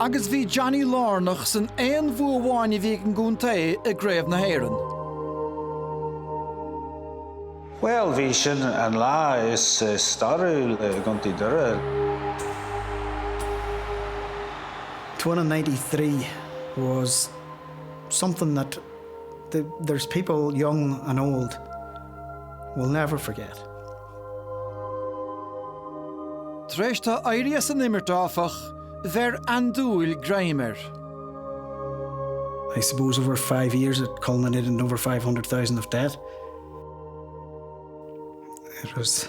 Agus bhí Johnny lárnach san aon bhua amháin a bhí ag an gcontae i gCraobh na hÉireann. Bhuel, bhí sin an lá is stairiúil i gContae Dhoire. To win in ninety three was something that there's people young and old will never forget. Tar éis dó éirí as an imirt, áfach, bheir andúil greim air. I suppose over five years it culminated in over 500,000 of debt. It was